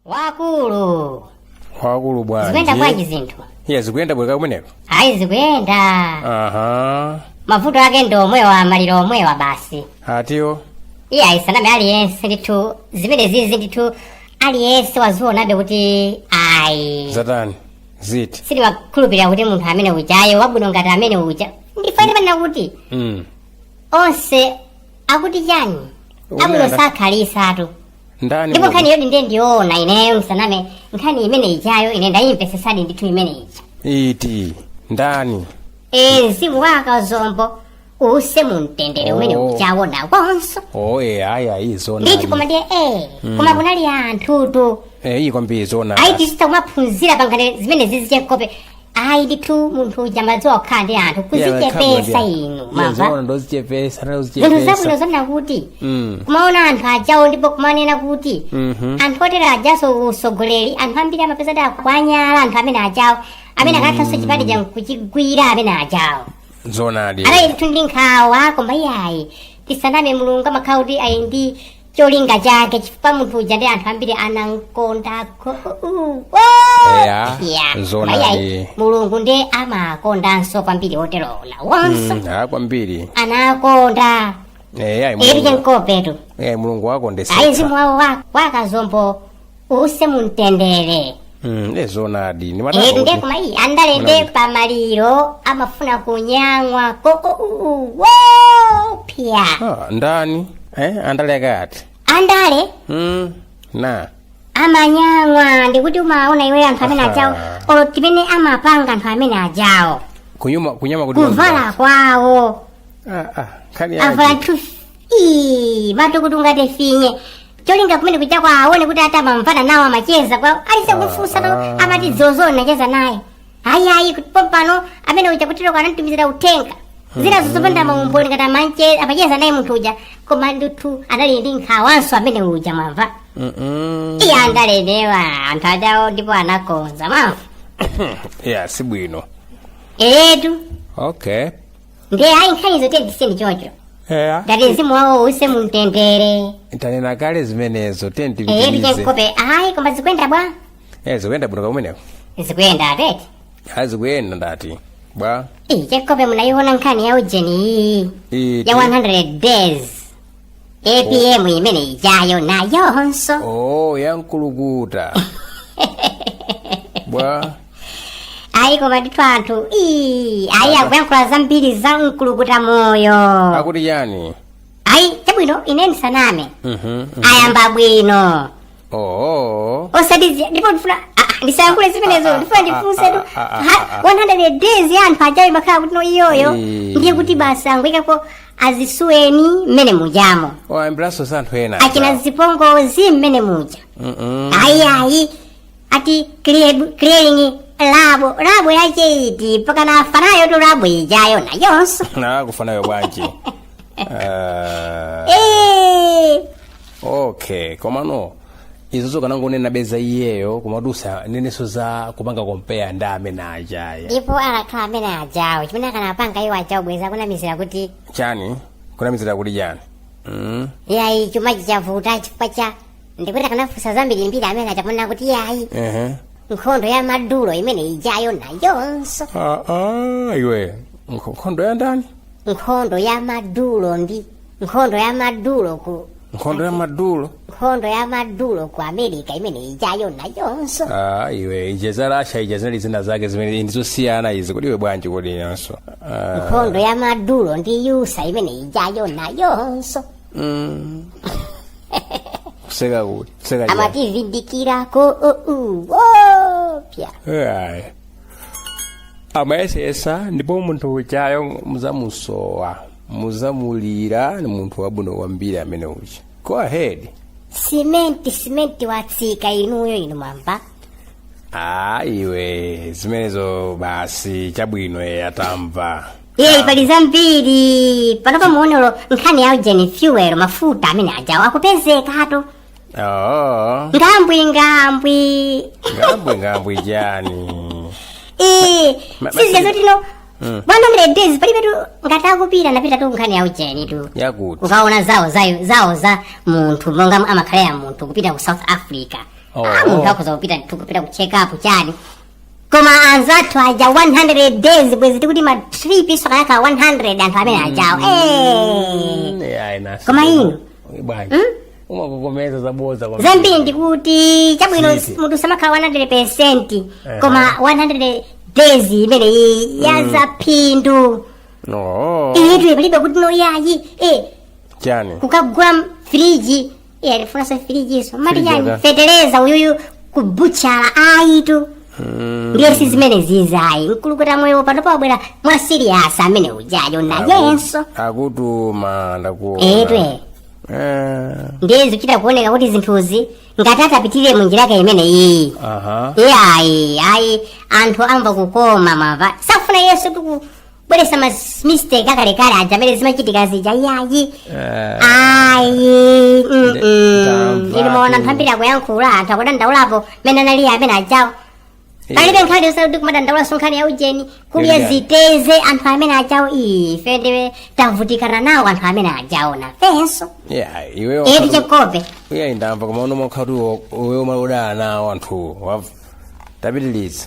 wakulu wakulu zikuyenda bwanji bwanji zinthu iye zikuyenda bwa kumeneko ayi zikuyenda aha mavuto ake ndi omwewa maliro omwewa basi atiwo iye ayi ndisaname aliyense ndithu zimene zizi ndithu aliyense wazionabe kuti ayi zatani ziti sindimakhulupirira kuti munthu amene ujayo wabwino ngati amene uja afanire ponena kuti mm. onse akuti chani amanena abwino sakhalisatu ndani ndipo muno? nkhani yoti ndiye ndiyoona ineyo ndisaname nkhani imene ijayo ine ndayimvesesadi ndithu imene ija iti ndani e mzimu wa a Kazombo uuse mu mtendere umene Oh. ujawona onse oye ayi ayi ndithu koma zonayi ndiye e koma kunali anthutu eyi kwambiri zonayi ayi tichite kumaphunzira pa nkhani zimenezizi che nkope ayi ndithu munthu uja amadziwa kukhala ndi anthu kuzichepesa inu mamba zona ndozichepesa zinthu zabwino ndozichepesa zonena kuti Mm. kumaona anthu ajawo ndipo kumanena kuti Mhm. anthu otera ajaso usogoleri anthu ambiri amapeza kuti awanyadira anthu amene ajawo amene akathanso chipani cha kuchigwira amene ajawo zoonadi ayi ndithu ndi nkhawa koma iyayi tisaname mulungu amakhala kuti ali ndi cholinga chake chifukwa munthu uja nde anthu ambiri anamkondako Eya, zona ndi- mulungu ndiye amakondanso kwambiri otero nawonso Mm, ah, kwambiri anakonda Eh, ayi, eri mulungu- che nkopetu eh, mulungu ayi wakondesetsa mzimu wawo wa- wa Kazombo uuse mumtendere Mm, ne zoonadi ndi Eh, matako nde kuti- koma iyi andale nde pa maliro amafuna kunyang'wa ko o- u- u- wo pya Ah, ndani eh andale akati andale mm, na amanyang'wa ndikuti umaona iwe anthu amene ajawo Aha. olo mmene amapanga anthu amene ajawo kunyuma kunyama kuti kuvala kwawo ah ah kali avala aje. thusi ii matukuti ungate finye cholinga kumene kuja kuti aone kuti ati amamvana nawo amacheza kwa aliyense kufunsa to ah. amati dzulo ndinacheza naye ayi ayi kuti pompano amene uja kutero anamtumizira uthenga zina zopanda maumboni ngati amanche amacheza naye munthu uja koma ndithu anali ndi nkhawanso amene uja mwamva Mm-mm. iye andalenewa anthu ajawo ndipo anakonza mwamva ya sibwino eetu okay ndiye ayi nkhani zote zisiyeni choncho eya ngati mzimu wawo uuse mumtendere tanena kale zimenezo tiye eyetu tipitirize che nkope ayi koma zikuyenda bwa Eh, zikuyenda bwino kaya kumeneko zikuyenda atete ayi zikuyenda ndati bwa iyi che nkope munayiona nkhani ya ujeni iyi Iti. ya 100 days apm imene ijayo nayonso oh yankulukuta bwa ayi koma ndithu anthu ii ayi akuyankhula zambiri za mkulukuta moyo akuti chani ayi chabwino ine ndisaname Mhm, mhm. ayamba bwino oh osati zi- ndipo ndifuna ah, ah, ndisayankhule zimenezo ndifuna ndifunse tu ah, ah, ha- 100 days ya anthu aja ikanakhala kuti no iyoyo Eh. ndiye kuti basi angoyikapo azisuweni mmene mujamo wayambiranso za anthu ena achina zipongozi mmene muja Mhm. ayi ayi ati clear- clearing labu labu yache iti mpakana fanayo tu labu ijayo nayonso na kufanayo bwanji Ah, Eh, okay komano izo zokanangonena bweza iyeyo kumadutsa nayenso za kupanga kompeya ndi amene ajaya ndipo akakhala amene ajawo chimene akanapanga iwo ajawo bweza kunamizira kuti chani kunamizira kuti chani mm? yayi chuma chija chavuta chifukwa cha ndikuti akanafunsa zambiri mbiri amene aja ponena kuti iye ayi ehe nkhondo ya madulo imene ijayo nayonso Ah, ah, iwe Nkho- nkhondo ya ndani nkhondo ya madulo ndi nkhondo ya madulo ku nkhondo ya madulo nkhondo ya madulo ku america imene ijayo nayonso Ah, iwe ija za russia ija zinali zina zake zimene ndizosiyana izi kodi iwe bwanji kodi inanso Ah, nkhondo ya madulo ndi USA imene ijayo nayonso Mm. kuseka kuti kuseka chani umatizindikira ko ou wopya Ayi. amayesesa ndipo munthu ujayo muzamusowa muzamulira ni munthu wabwino kwambiri amene uja go ahead simenti simenti yatsika inuyo inu mwamva ayiwe zimenezo basi chabwino tamva iye pali zambiri panopa muone nkhani ya ujeni fuel mafuta amene ajawo akupezekatu oh ngambwi ngambwi ngambwe ngambwe chani Eh, Ma- sizile basi- zoti no bwana 100 days palibe tu ngati akupita napita tu nkhani ya ujeni tu yakuti ukaona zawo za zawo za munthu monga amakhala ya munthu kupita ku south africa Oh. ah, munthu akhoza kupita tu kupita ku check up chani koma anzathu aja 100 days bwezi tikuti ma trip akanakwana 100 anthu amene ajawo Eh. Eh, ayi, nasi. Koma inu? Uyi bwanji umakokomeza zabodza kwa zambiri ndikuti chabwino Sisi. munthu samakhala 100 percent Aha. koma 100 days imene iyi yazadza phindu no iyitu palibe kuti noyayi eh, chani kukagula friji iye safuna sofirijiso mati Firijaga. chani feteleza uyuyu ku butchala ayitu ndiye si zimenezi zayi mkulukuta moyo pano pabwera mwa siriyasi amene ujayo nayenso akutuma ndakuona etwe Eh, ndiye zikuchita kuoneka kuti zinthuzi ngati atapitirire munjira yake imene iyi aha iye ayi ayi anthu amvakukoma mava sakufuna yoti tiku bweresa ma mistake akalekale aja amene zimachitika zija iyayi ayi mm, Nde- mm. ndamva inu maona tu. anthu ambiri akuyankhula anthu akudandaulapo mmene analili amene ajawo palibe nkhani yosati kumadandaulaso nkhani ya ujeni kudya Ndilingani. ziteze anthu amene ajawo ife ndiwe tavutikana nawo anthu amene ajawo nafenso Yeah, iwe eti wakati- chikope iye ndamva koma uno mwakhati iwe umadana nawo anthuwo wamva tapitiliza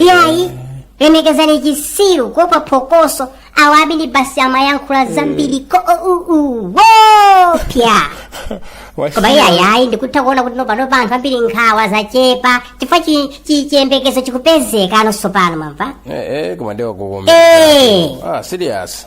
iyayi lemekezani chitsiru kuopa phokoso awawa ndi basi amayankhula zambiri kuwopseza koma iyayi ndikutha kuona kuti nopano anthu ambiri nkhawa zachepa chifukwa chi- chi- chiyembekezo chikupezeka nonso pano mwamva Eh, eh, koma ndiwa kukomera. Eh. Ah, serious.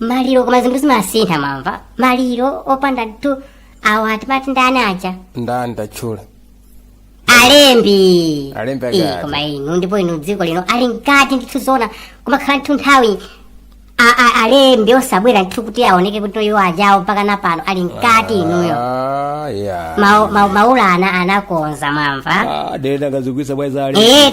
maliro koma zinthu zimasintha mwamva maliro opanda tu awa timati ndani aja ndani tachula alembi Alembi Ii, mkati. koma inu ndipo inu dziko lino ali mkati ndithu zoona kumakhala ndithu nthawi a- a- alembi osabwera ndithu kuti aoneke kuti iwo ajawo mpaka na pano ali mkati inuyo Ah, yeah. Ma- ma- maula ana anakonza mwamva Ah, dele ndakazugwisa bweza ali eh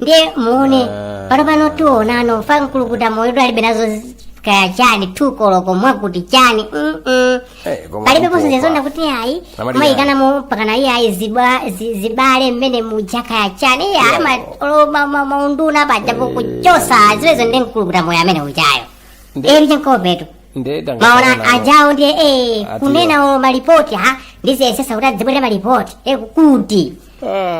ndiye muone Ah. pano pano tionano fa mkulukuta moyo alibe nazo zi- kaya chani tu koloko mwakuti chani mm-mm. Eh, koma palibe mpopa. ponse zizonda kuti ayi Amati mayikana mpakana iye ayi zibwa- zi- zibale mmene muja kaya chani iye ayi ma- olo ma- ma- maunduna pajapo kuchosa zimenezo ndi mkulukuta moyo amene ujayo Ndi- eri chenkopetu nde tanga maona tanga- ajawo ndiye eh, Atiwa. kunena o malipoti ha ndi aziyesesa kuti azibwera malipoti eh, kuti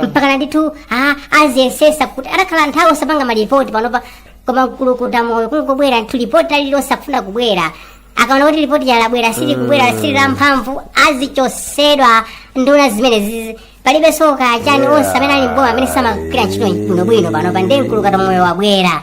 mpakana ndithu a- aziyesesa kuti asakhale nthawi osapanga malipoti panopa koma mkulukuta moyo kungobwera ndithu lipoti lili losafuna kubwera akaona kuti lipoti lalabwera sili kubwera sili la mphamvu azichosedwa nduna zimenezizi palibe so kachani onse amene ali m'boma amene samagwira ntchito bwinobwino panopa ndiye mkulukuta moyo wabwera